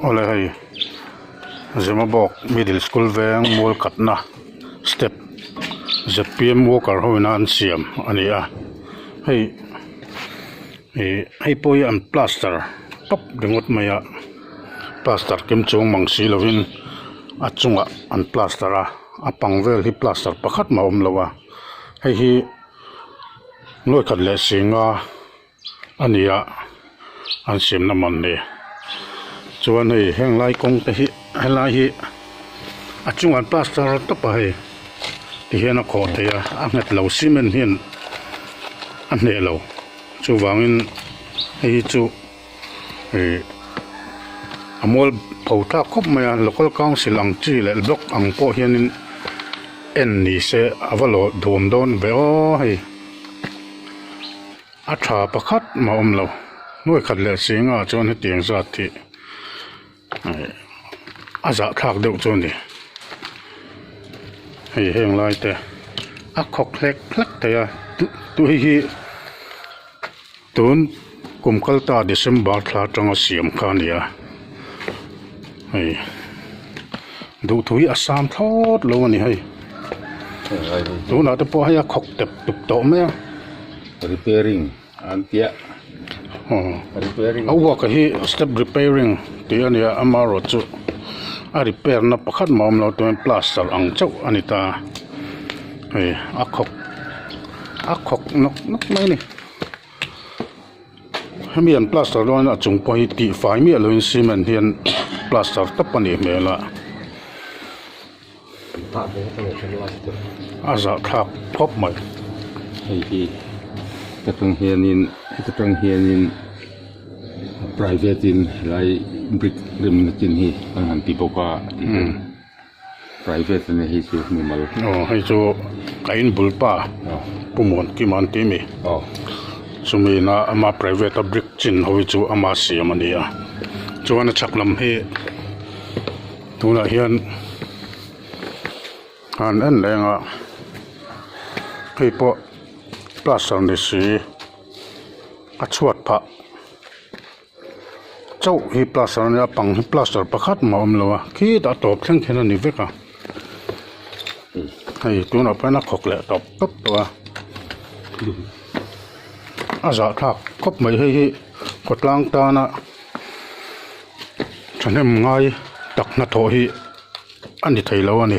awle hei zimabawk middle school veng mual katna step ztm worker ho ina an siam a ni a hei ih hei pawh hi an plaster tawp ringawt mai a plaster kim chuang mang si lovin a chungah an plaster a a pang vel hi plaster pakhat mah a awm lo a hei hi ngawihkhat leh sînga-- a ni a an siam na man hle chuan hei heng lai kawng te hi he lai hi a chung an plaster a tawp a hei ti hian a kawh theih a a nghet lo cement hian a hneh lo chuvang in hei hi chu ih a mual pho thlak khawp mai a local council ang chi leh block ang pawh hian in en ni se a va lawh duam dawn ve aw hei. A tha pakhat mah awm lo. Hnuai khat leh si ngah chuan hetiang zat hi a zahthlak deuh chu a ni. Hei heng lai te a khawk hlek hlek thei a. Tui hi tun-- Kum kal ta December thla tanga siam kha a ni a, hei duhthû hi a sâm thlâwt lo a ni hei, tûnah te pawh hei a khawk tep tûp tawh mai a. Repairing an tia a uaka hi step repairing tih a ni a, ama erawh chu a repair na pakhat mah a awm lo tumin plaster ang chauh a ni ta, hei a khawk a khawk nawk nawk mai a ni. hemi an plaster dawn a chung pawh hi tihfai miah loin cement hian plaster tap a nih hmel a a zah thlak khawp mai hei hi heta tang hianin heta tang hianin private in helai brick rem na chin hi an han ti bawk a. Private a ni hei chu hnu mal. Aw hei chu ka in bul pa Pu Mawn Kim an tih a mi. Chumi ina ama private a brick chin ho hi chu ama siam a ni a. Chuan a chhak lam hi tunah hian han en leng a. Hei pawh plaster ni si a chhuat phah. chauh hi plaster a nia a pang hi plaster pakhat mah a awm lo a khitah a tawp thleng khin a ni vek a hei tunah pawh hian a khawk leh tawp tawp tawh a a zah thlak khawp mai hei hi khawtlang tana thahnem ngai tak hnathawh hi a ni thei lo a ni.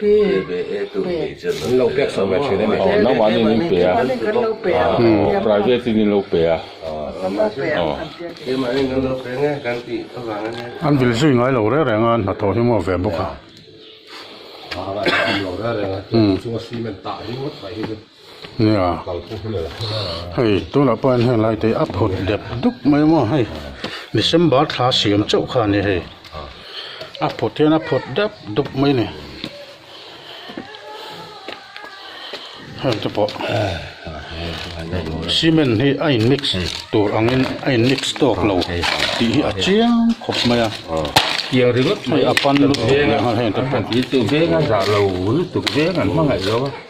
Min lo pek chhoh ve thin a ni. Aw naumahni in in pe a, aw private in in lo pe a, aw. An vil zui ngai lo reng reng a, an hnathawh hi maw ve bawk a. Nia hei tunah pawh hian heng lai te hi a phut dep dup mai a maw hei December thla siam chauh kha a ni hei a phut hian a phut dep dup mai a ni hengte pawh cement hi a in mix tur angin a in mix tawk lo tih hi a chiang khawp mai a kiang ringawt mai a pan lutuk nia heng te pawh.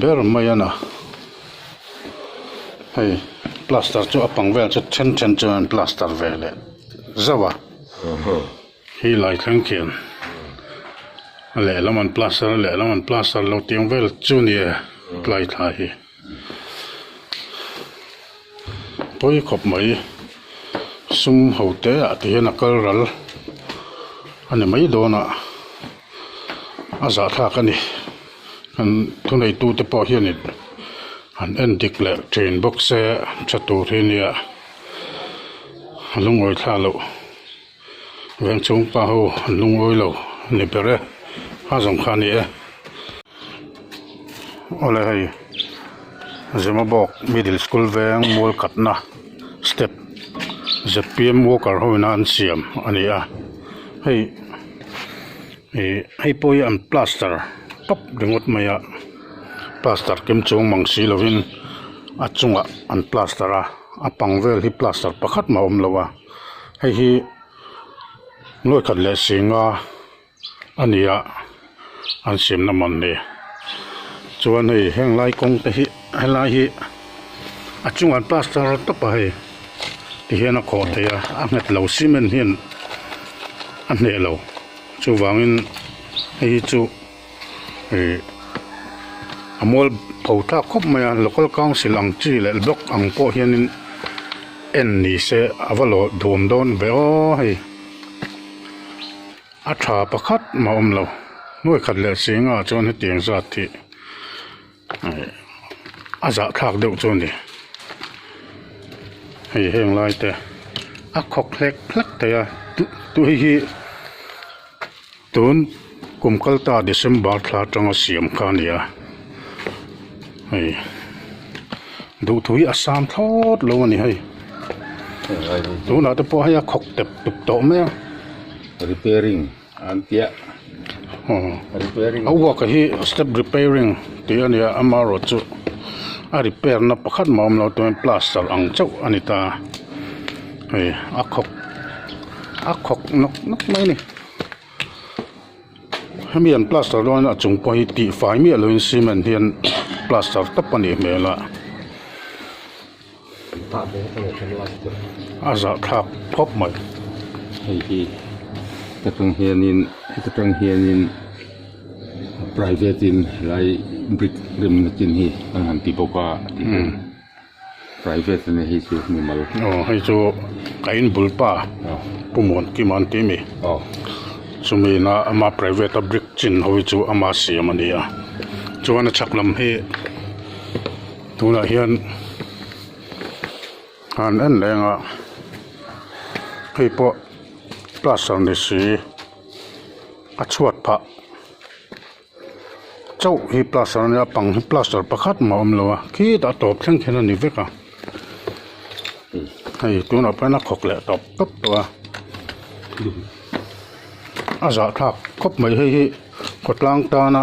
ber mai a na hei plaster chu a bang vel chu then then chu an plaster ve leh zauh a khi lai thleng khian a lehlam an plaster a lehlam an plaster lo tiang vel chu a ni e tlai thlai hi. pawi khawp mai sum ho te ah te hian a kal ral a ni mai dawn a a zahthlak a ni an thuneitu te pawh hian in an en dik leh thin bawk se a tha tur hi nia a lungawithlak loh. veng chhungpa ho an lu ngawi lo ni ber e, a zawng kha a ni e. Awle hei Zimabawk middle school veng mual katna step zpm worker ho ina an siam a ni a, hei ih hei pawh hi an plaster tawp ringawt mai a, plaster kim chhung mang si lovin a chungah an plaster a, a pang vel hi plaster pakhat mah a awm lo a. Hei hi nuaikhat leh singa a ni a an siam na man ni chuan hei heng lai kawng te hi heng lai hi a chunga an plaster rawh tawp a hei ti hian a khawh theih a a nghet lo cement hian a hneh lo chuvangin hei hi chu-- ih a mual tho thlak khawp mai a, local council ang chi leh block ang pawh hianin en ni se a va lawh duam dawn ve aw hei a tha pakhat mah awm lo nuaih khat leh singah chuan hetiang zat hi. a zah thlak deuh chu a ni. Hei heng lai te a khawk hlek hlek thei a, tui hi tun kum kal ta December thla atanga siam kha a ni a, hei duhtui a sam thlawt lo a ni hei, tunah te pawh hei a khawk tep tuk tawh mai a, repairing. An tia a work a hi step repairing tih a ni a ama erawh chu a repair na pakhat mah a awm lo tumin plaster ang chauh a ni ta hei a khawk a khawk nawk nawk mai a ni hemi an plaster dawn a chung pawh hi tihfai miah loin cement hian plaster tap a nih hmel a. A zahthlak khawp mai hei hi heta tang hianin heta tang hianin private in helai brick remna chin hi an han ti bawk a tihian private a nih hi chu hmu mal aw hei chu ka in bul pa pu muan kim an tih mi aw chumi ina ama private a brick chin ho hi chu ama siam a ni a chuan a chhak lam hi-- Tunah hian han en leng a, hei pawh plaster ni si a chhuat phah chauh hi plaster a nia pang hi plaster pakhat mah a awm lo a khitah tawp thleng khin a ni vek a hei tunah pawh hian a khawk leh tawp tawp tawp a a zahthlak khawp mai hei hi khawtlang tana.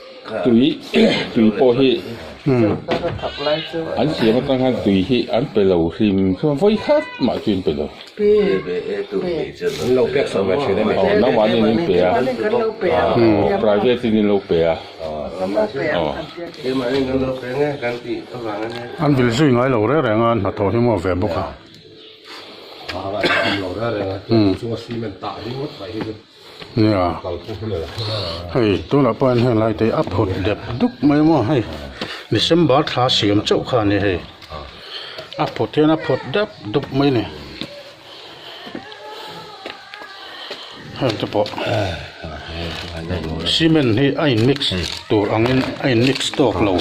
Tui tui pawh hi an siam atang hian tui hi an pe lo hlim thluan vawi khat mah chu in pe lo. Nangmahni in pe a private in in lo pe a. An vil zui ngai lo reng reng a an hnathawh hi a muak ve bawk a. Nia, hei tunah pawh hian heng lai te hi a phut dep dup mai maw hei, December thla siam chauh kha a ni hei, a phut hian a phut dep dup mai ni, hengte pawh cement hi a in mix tur angin a in mix tawk lo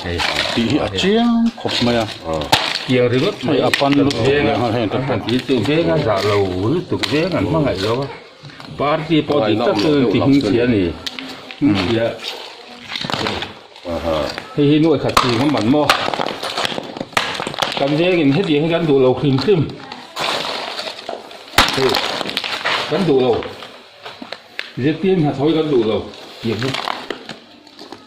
tih hi a chiang khawp mai a, hei a pan lutuk leh ang a hengte pawh. Party pawh dik tak chuan ti hming chhia ni hming chhia hei hi nuaih khat chi ngam an maw kan veng in hetiang hi kan duh lo hlim hlim hei kan duh lo zti hnathawh hi kan duh lo ti ang hi.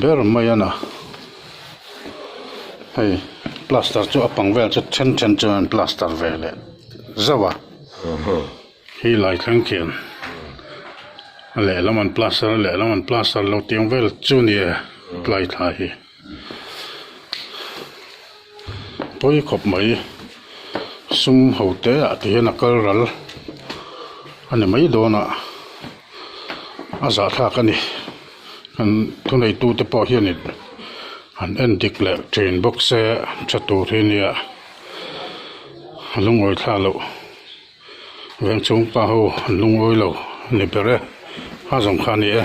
ber mai a na hei plaster chu a bang vel chu then then chuan an plaster ve leh zauh a khi lai thleng khian a lehlam an plaster a lehlam an plaster lo tiang vel chu a ni e tlai thlai hi. pawi khawp mai sum hote ah tih hian a kal ral a ni mai dawn a a zahthlak a ni an thuneitu te pawh hian in an en dik leh thin bawk se tha tur hi nia a lu ngawi thla loh veng chhungpa ho an lu ngawi lo ni ber e a zawng kha a ni e.